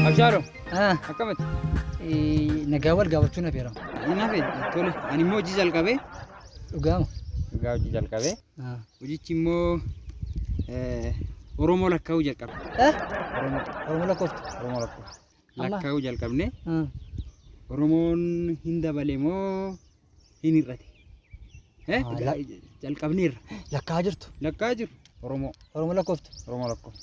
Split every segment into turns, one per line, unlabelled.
Abshaalo, Ah, akkamitti? eh,
nagaa wal gaafachuun affeerama. Hin hafe, tole.
Ani immoo hojii jalqabee. Dhugaama.
Dhugaa hojii
jalqabee. Ah. Hojichi immoo eh, Oromoo lakkaa'uu jalqabe. Eh? Oromoo,
Oromoo lakkooftu. Oromoo lakkaa'uu.
lakkaa'uu jalqabne Hmm. Oromoon hin dabale moo hin hir'ate? Eh, Ah, la- Jalqabneerra. Lakkaa jirtu.
Lakkaa jiru
Oromoo. Oromoo lakkooftu. Oromoo
lakkoo.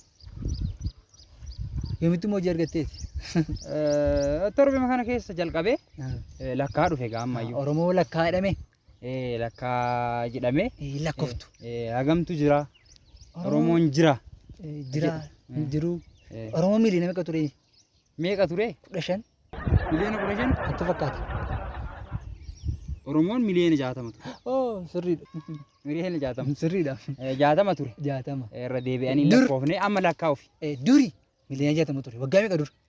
Yoomitti immoo hojii argatteeti. Eh,
Torbee kana keessa jalqabee eh, lakkaa dhufe gaammayyuu. Oromoo lakkaa jedhame.
Eh, lakkaa
jedhamee Eh, Lakkoftu. eh,
hagamtu jira
oromoon jira Eh, Jira. Eh.
Jiru. Eh, Oromoo miiliyoona meeqa ture? meeqa ture
Kudha shan.
miliyoona kudha
shan Natti fakkaata. oromoon miliyoona jaatama ture Oh, sirriidha.
miliyoona
jaatama Sirriidha. Eh, jaatama
ture
Jaatama. Eh, irra
deebi'anii Dur-
lakkoofne amma lakkaa'uuf Eh, Duri.
Miliyoona jaatama ture. Waggaa meeqa dura?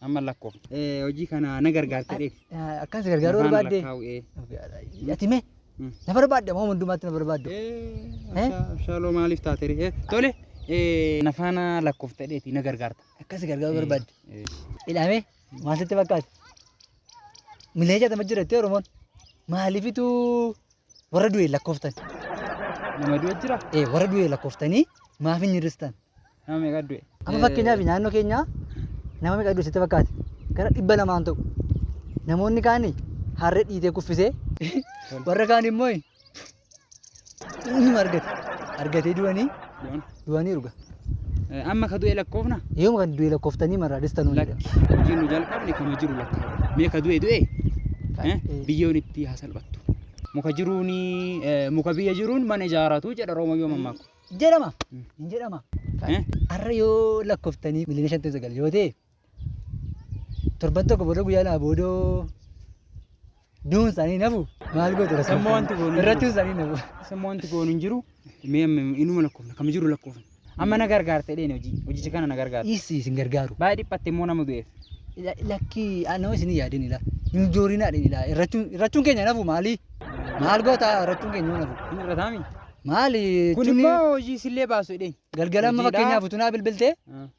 Amma lakkoo. Eh,
Hojii kana na gargaarta dheef. Akkas gargaaruu Lafaan
barbaadde. lakkaa'u, eh. Ati mee Mm. na barbaadde amma hundumaatti na barbaaddu. Eh,
Abshaaloo maaliif taate ree? Eh, Tole. eh, Na faana lakkoofta dheeti na gargaarta. Akkas gargaaruu barbaadde.
Eh, Ilaamee maal sitti fakkaata? Milee jaatama jirattee Oromoon maaliifitu Warra du'e lakkooftan. Nama
du'e jira? Ee warra du'e lakkooftanii
maaf hin hir'istan? Nama meeqa du'e?
Amma fakkeenyaaf naannoo
keenyaa nama meeqa du'e sitti fakkaate? Gara dhibba lamaan ta'u. Namoonni kaan harree dhiitee kuffisee warra kaan immoo inni argate. Argatee du'anii Yoon. Du'aniiru ga. Eh, Amma ka
du'e lakkoofna? Yoom kan du'e lakkoftanii
marraa dhistanuu ni Lakki. dha. Hojii nu
jalqabne kama jiru lakkaa'u. Mee ka du'e du'e? Kan- Eh, eh. Biyyoon itti haa salphattu. Muka jiruun eh, muka biyya jiruun mana ijaaratu jedha Roomayyoo mammaaku. Jedhama. Mm.
Hin jedhama. Eh? Har'a yoo lakkoftanii miliyoona shantamii sagal yoo ta'e Torban tokko booda guyyaa lama booda du'uun isaanii hin hafu maal gootu rasuu Amma wanti goonu hin irratti jiru.
isaanii hin hafu.
Samma wanti goonu hin jiru.
Mee amma inuma lakkoofna kam jiru lakkoofna. Amma na gargaarte dheen hojii hojicha kana na gargaarte. Dhiissi isin gargaaru. Baay'ee
dhiphatte immoo nama
du'eef. La- Lakkii
ah, nama isin hin yaadin ilaa hin joorinaa dhin ilaa irrachuun irrachuun keenya hin hafu maali maal goota irrachuun keenya hin hafu Hin irrataami.
maali
Kun jechuun immoo
hojii sillee baasu dheen. galgala amma Hojiidhaa. fakkeenyaaf
utuu naa bilbiltee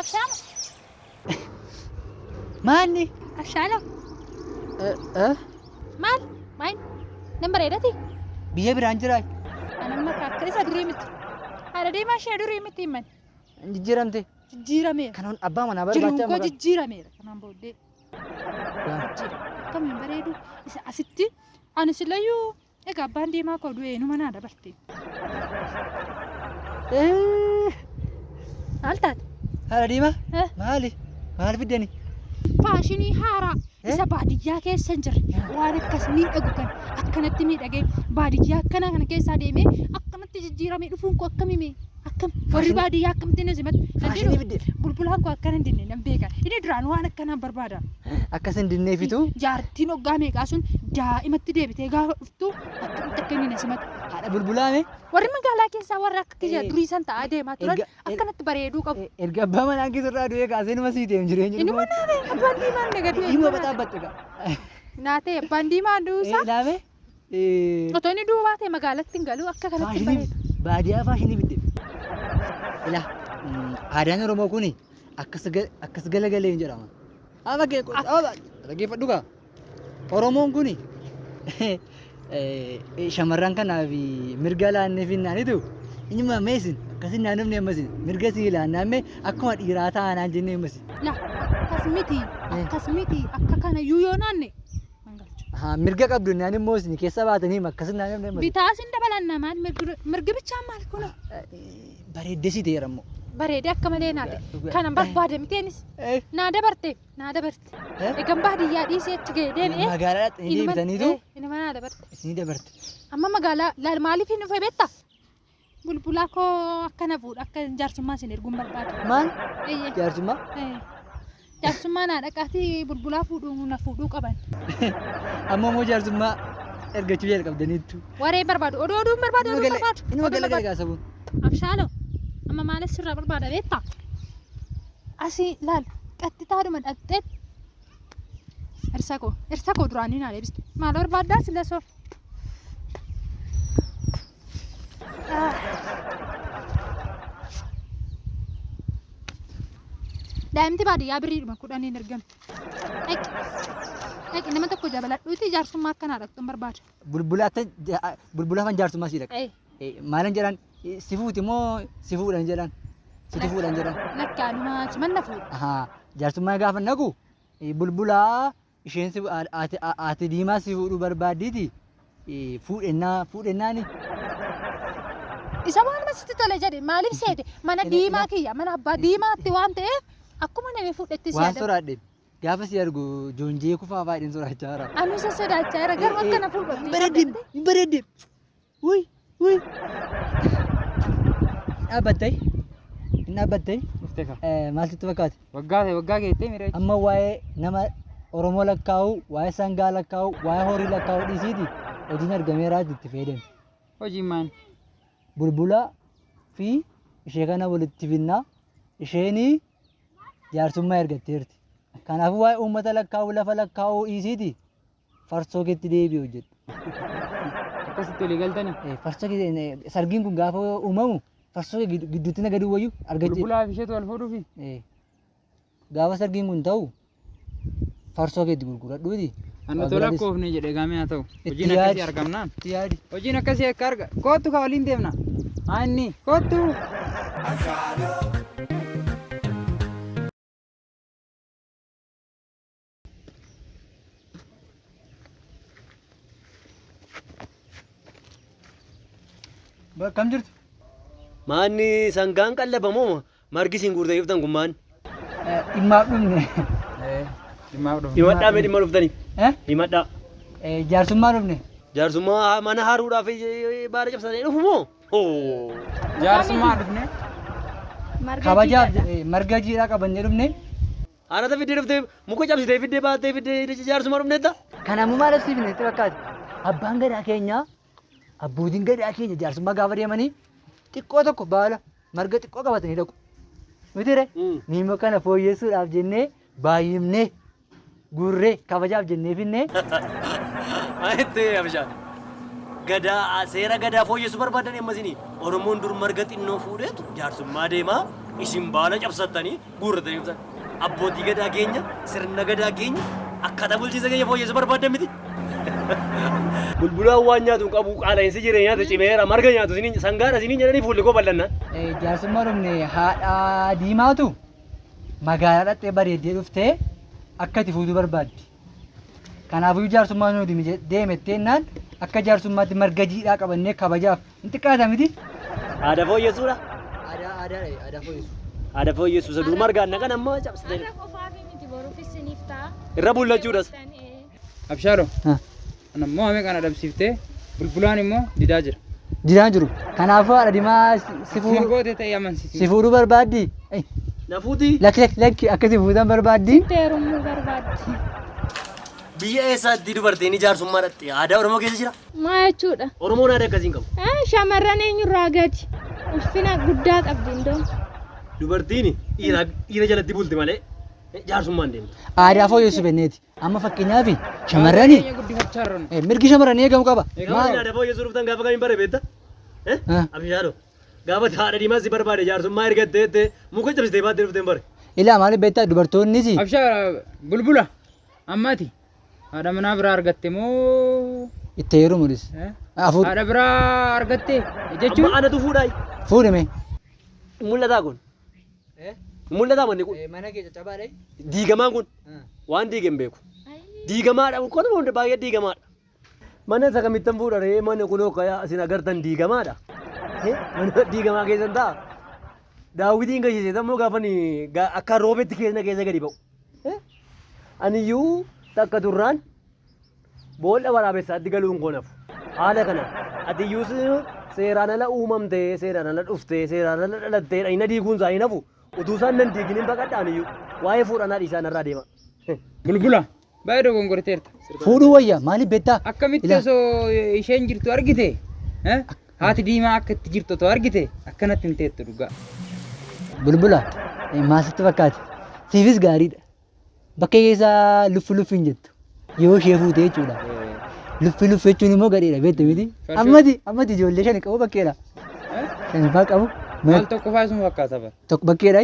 Abshaala.
Maanni? Abshaala.
Maal? Maal? Nan bareedati? Biyya biraan
jiraa? Anamma akka
isa durii miti. Haadha deemaa ishee durii miti himan. Jijjiiramte.
Jijjiirameera.
Kanan abbaa manaa Jiruun
barbaacha koo jijjiirameera.
Kanaan booddee. Akkamiin bareedu isa asitti ani silayyuu Egaa abbaan deemaa koo du'ee numa naa dabarte. Maal taate? Haadha diimaa
Eh. maali? Maal fiddani? Faashinii
haaraa Eh? isa baadiyyaa keessa hin jirre waan akkas miidhagu kan akkanatti miidhagee baadiyyaa akkana kana keessaa deemee akkanatti jijjiiramee dhufuun koo akkamime Akkam warri baadiyyaa akkamti na simatu. Faashinii fidde.
Bulbulaan koo akkana hin
dinne nan beeka. Inni duraan waan akkanaan barbaada. Akkas hin
dinneefitu. Jaartiin hoggaa
meeqaa sun daa'imatti deebitee gaafa dhuftu akkamitti akka inni na simatu. Haadha bulbulaame.
Warri magaalaa
keessaa warra akka kiyya Eh, durii san ta'aa deemaa turan erga- er- akkanatti bareeduu qabu. E- Erga abbaa manaa keessa
irraa du'ee kaasee numa sii ta'eem jireenya. Inni mana ta'e abbaan
diimaan na gadee. Inni bataa batte gaa.
Naa ta'e
abbaan diimaan duusaa. Ilaame.
Otoo
inni du'uu baate magaalatti hin galu akka kanatti hin faashinii bareedu. baadiyyaa faashinii fidde.
Ila aadaan Oromoo kun akkas ga- akkas galagalee hin jedhama. Amma kee dhaggeeffadhu kaa. Oromoon kun shamarran kanaaf mirga laannee finnaanitu inuma meesin akkasii naannofni ammasin mirga sii laannaan mee akkuma dhiiraa taanaan jennee ammasin. La akkas
miti akkas miti akka kana iyyuu yoo naanne Haa, mirga qabdu
naan immoo isin keessa baatanii akkas naan himne malee. Bitaa sin dabalanna maal
mirgi- mirgi bichaa maal kun Bareeddee
si ta'eera immoo. bareedee akka malee
naa ta'e. Dhugaa- Kanan barbaade miteenis Eh, naa dabarte naa dabarte. eh, Egan baadiyyaa dhiisee achi ga'e deebi'ee. Magaalaadhaatti ni deebitaniitu
Inuma naa dabarte.
isinii dabarte.
Amma magaalaa
laal maaliif hin dhufee beektaa? Bulbulaa koo akka na fuudhu akka jaarsummaa isin erguun barbaadu. Maal? Eeyyee.
Jaarsummaa?
Eh, Jaarsummaa naa dhaqaatii bulbulaa fuudhuu na fuudhuu qaban. Amma
immoo jaarsummaa ergachuu jalqabdaniittu. Waree barbaadu. Oduu
oduun barbaadu Inni oduu magala- barbaadu. inni Oduu magala barbaadu.
galagaa sabuun. Abshaaloo
amma maal sirraa barbaada beektaa? Asii laal qaxxitaadhuma dhaqxee Ersa koo ersa koo duraanii naa deebiste maal barbaaddaa sila soo Daa'imti baadiyyaa birriidhuma kudhaniin ergamti. Dhaqi. Dhaqi nama tokko jabaladhuuti jaarsummaa akkanaa dhaqxu hin barbaadu. Bulbulaatti
bulbulafan jaarsummaa sii dhaqa. Ee, Maalan jedhan si fuuti moo si fuudhan jedhan situ fuudhan jedhan. Lakki anumaa cimanna
fuudha. Ahaa, Jaarsummaa gaafa
naqu bulbulaa isheen si- a- ati- a- ati diimaa si fuudhuu barbaaddiiti eh, fuudhennaa fuudhennaani
Isa maaluma sitti tole jedhi maaliif seete mana Ina- diimaa ina- kiyya mana abbaa diimaatti waan ta'eef akkuma namni fuudhetti si waan yaadama. soraadhe
gaafa si argu joonjee kufaa faayidin soraachaa jira. Ani isa sodaachaa jira
garuu akka na fuudhu. Hin bareeddeem hin bareeddeem
Uy, uy. Dhaabbattee? Hin dhaabbattee? Dhuftee kaa. Eh, Maal sitti fakkaate? Waggaa ta'e waggaa geettee miira
jechuudha. Amma waa'ee nama
Oromoo lakkaa'uu, waa'ee sangaa lakkaa'uu, waa'ee horii lakkaa'uu dhiisiiti hojiin argameeraati itti fayyadame. Hojiin maal?
Bulbulaa
fi ishee kana walitti finnaa isheen jaarsummaa ergatteerti. Kanaafuu waa'ee uummata lakkaa'uu, lafa lakkaa'uu dhiisiiti farsoo keetti deebi'e hojjedhu.
Akkasitti olii galtanii. Eh, Farsoo kee eh,
sargiin kun gaafa uumamu farsoo kee giddu- gidduutti na gaduu wayyu argachuu. Bulbulaa fi isheetu wal fuudhuufi.
Eh,
Gaafa sargiin kun ta'u farsoo keetti gurguradhuuti. Annu tola Abiraadis
koofne jedhe gaamee haa ta'u. Itti Hojiin yaadi. akkasii argamnaan. itti yaadi. Hojiin akkasii akka arga. Koottu kaa waliin deemna. Haa inni. Koottu. Ashaaloo
Bakkam jirtu? Maanni
sangaan qallabamoo margi isin guurtee dhuftan kun maanni? Dhimmaaf
dhufne. Dhimmaaf
dhufne. Himadhaa mee dhimma dhuftanii? Eh? Himadhaa. Eh, Jaarsummaa
dhufne. Jaarsummaa mana
haaruudhaaf baara cabsatee dhufu moo? Hoo!
Jaarsummaa dhufne. Marga
Kabajaaf jiidha. eh, marga jiidhaa qabannee dhufne. Haarata fiddee
dhuftee muka cabsitee fiddee baattee fiddee hidhicha jaarsuma dhufneetta. Kan ammoo maal agarsiifne
itti fakkaate? Abbaan gadaa keenya, abbootiin gadaa keenya jaarsummaa gaafa deemanii xiqqoo tokko baala marga xiqqoo qabatanii dhaqu. Mitiire miimmoo kana fooyyessuudhaaf jennee baay'ifnee guurree kabajaaf jennee finnee
Ayitti abishaan. Gadaa seera gadaa fooyyessu barbaadan ammasini Oromoon dur marga xinnoo fuudheetu jaarsummaa deemaa isin baala cabsattanii guurratanii dhuftan. Abbootii gadaa keenya sirna gadaa keenya akkaataa bulchiinsa keenya fooyyessu barbaaddan miti. Bulbulaan waan nyaatu hin qabu qaala'insi jireenyaatu cimeera marga nyaatu isiniin sangaadha isiniin jedhanii fuulli koo bal'annaan. Jaarsummaa dhumne
haadha diimaatu magaalaa dhaqxee bareeddee dhuftee akka itti fuutuu barbaaddi. Kanaafuu jaarsummaa nuu deemettee innaan akka jaarsummaatti marga jiidhaa qabannee kabajaaf Hin xiqqaata miti. Aadaa fooyyessuudha.
Aadaa aadaa dha
aadaa fooyyessu. Aadaa fooyyessu isa
duuma argaan naqan ammoo cabsitee. Har'a qofaaf miti boruufis siniif ta'a. Irra bullachuudhas. Abshaaloo.
Ha. Ana immoo hame kana dhabsiiftee bulbulaan immoo didaa jira. Jiraan jiru.
Kanaafuu haadha dimaa si- si Akkuma fuudhu- goote ta'e si
amansiisi. fuudhuu barbaaddi.
Ei, Na fuuti.
Lakki lakki lakki akka
si fuutan barbaaddi. Teerumuu barbaaddi.
Biyya eessaatti dubartiin ijaarsummaa dhaqxi? Aadaa Oromoo keessa jira? Maa jechuudha?
Oromoon aadaa akkasii hin qabu.
Eh, Shamarran eenyurraa
gadi? Ulfina guddaa qabdi indoo. Dubartiin
dhiira dhiira jalatti bulti malee jaarsummaan deemtu. Aadaa fooyyessu benneeti.
Amma fakkeenyaaf shamarrani Keenya guddifachaa jirru. eh, mirgi shamarranii eegamu qaba. Egaa Maal? aadaa fooyyessuu dhuftan
gaafa kamiin bare beekta? Eh? Ah. Abishaadho. Gaafa haadha diimaa si barbaade jaarsummaa ergattee jettee muka cabsitee baattee dhufteen bare. Ilaa maaliif beektaa
dubartoonnis Abshaa
bulbula. Amma ati haadha manaa biraa argatte moo Itti heerumu dhis.
eh?
Afur. haadha
biraa
argatte Amma
jechuun
anatu fuudhaa.
Fuudhime. Mul'ataa kun. Mul'ataa manni kun. mana kee caccabaa dhayi.
Diigamaan kun.
Waan diige hin beeku. Diigamaadha. Kun baay'ee diigamaadha. Mana isa kamittan fuudha ree mana kunoo akka isin agartan diigamaadha. Eh, Mana diigamaa keessan ta'a. Daawwitiin gashiise immoo gaafa ni ga- akka roobetti keessa keessa gadi ba'u. Eh, Aniyyuu takka turraan boolla waraabessaatti galuun koo nafu. Haala kana atiyyuu se- seeraan ala uumamtee seeraan ala dhuftee seeraan ala dhalattee dhagna diiguun isaa hin hafu. Utuu isaan nan diigin hin baqadha aniyyuu. Waa'ee fuudhanaa dhiisaan irraa deema. Bulbula
Baay'ee dogongorteerta. Fuudhuu wayya
maaliif beektaa? Akkamitti Ilaa. osoo
isheen jirtu argite? eh? Haati diimaa akka itti jirtu otoo argite akkanatti hin teettu dhugaa. Bulbula
eh, maal sitti fakkaate? Siifis gaariidha. Bakka keessaa luffi luffi hin jettu. Yoo ishee fuute jechuudha. Luffi luffi jechuun immoo gadheedha beektu miti. Farshoo. Ammati ammati ijoollee shan qabu bakkeedha. Eh? Shan faa qabu. Maal tokko faa isin
fakkaata bara? Tokko bakkeedha.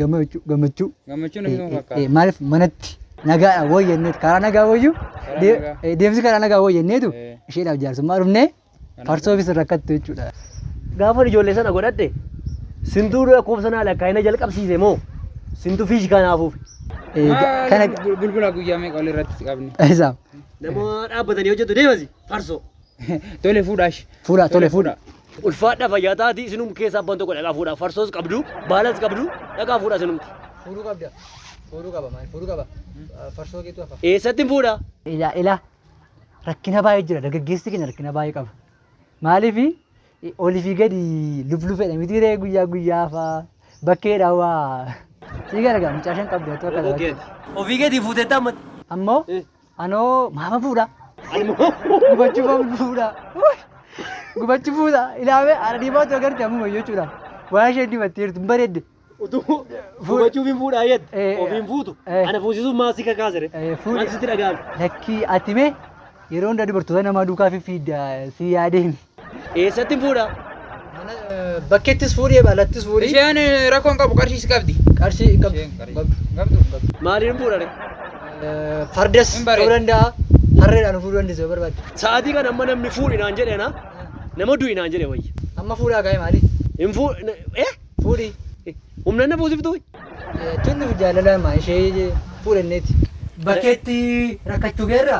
gammachuu gammachuu Gammachuu namni nama
fakkaata. maaliif manatti
nagaa woo jenneetu karaa nagaa wooyyuu Karaa dee- nagaa. eh, deemsi karaa nagaa woo jenneetu Eh. isheedhaaf jaarsummaa dhufnee farsoofis rakkattu jechuudha. Gaafa ijoollee
sana godhadhe sintuu lakkoofsa naa lakkaa'ina jalqabsiise moo sintu fiish kanaafuuf Eh, ga- Maal kana
bul- bulbula guyyaa meeqa ol irratti qabne? isaaf. nama
dhaabbatanii hojjetu deemasi farsoo. Tole fuudhaa
ishee. Fuudhaa tole fuudhaa.
Ulfaadha
fayyaa taati isinum keessaa abbaan tokko dhaqaa fuudhaa farsoos qabdu baalas qabdu dhaqaa fuudhaa isinumti. Fuudhuu qabda.
Fuudhuu qaba maal? Fuudhuu qaba. Farsoo keetu hafa. Eessatti hin fuudhaa?
Ilaa ilaa
rakkina baay'ee jira dargaggeessi keenya rakkina baay'ee qaba. Maaliif olii fi gadi lublufedha miti ree guyyaa guyyaa faa bakkeedha waa. Sii gargaa mucaa shan qabdu otoo Obbo akkana. Geeti. Ofii keetii fuuteettaa
ammatti. Ammoo Eh.
Anoo maama fuudha. Gubachuu maama fuudha. Gubachuu fuudha. Ilaame haadha diimaa otoo garte ammuma jechuudha. Waan isheen dibattee jirtu hin bareedde. Utuu
gubachuu hin fuudhaa jette Eh, ofiin fuutu eh. ana fuusisuun maal si kakaasere Eh, fuudhi. maal sitti dhaga'ame. Lakkii ati mee
yeroo hundaa dubartoota namaa duukaa fiffiidda si yaadeen. Eessattin fuudha? Bakkettis fuudhi, alattis fuudhi. Isheen eh, rakkoo hin qabu
qarshiis qabdi. Qarshii hin qabdu. Isheen
qarshii- Qabdu. hin qabdu, hin qabdu. Maaliin fuudha?
ree? Eh,
Fardas Hin bareedu. ta'uu danda'a. Harreedhaan fuudhuu dandeessu yoo barbaadde. Sa'aatii kana amma namni
fuudhi naan jedhe na nama du'i naan jedhe wayya. Amma fuudhaa kaa'e maali?
Hin fuu
eh Fuudhi.
humna
na buusiftu. Eh, Tunni
jaalala maa ishee fuudhanneeti. Bakkeetti rakkachuu keerra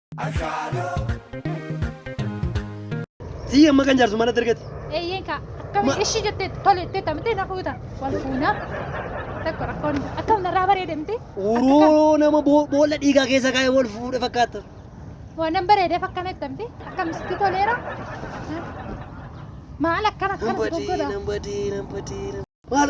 Sii amma kan jaarsu mana dargate. Eeyyeen kaa akkami
Ma- ishii jettee tole jettee tamitee na fuuta wal fuunaa tokko rakkoon akkam narraa bareede miti Uroo nama
boo- boolla dhiigaa keessa kaa'ee wal fuudhe fakkaata. waanan
bareedeef akkana jetta miti akkam sitti toleera maal akkana Nan akkana si badii, goggoda nan badii, nan badii.
nan- Maal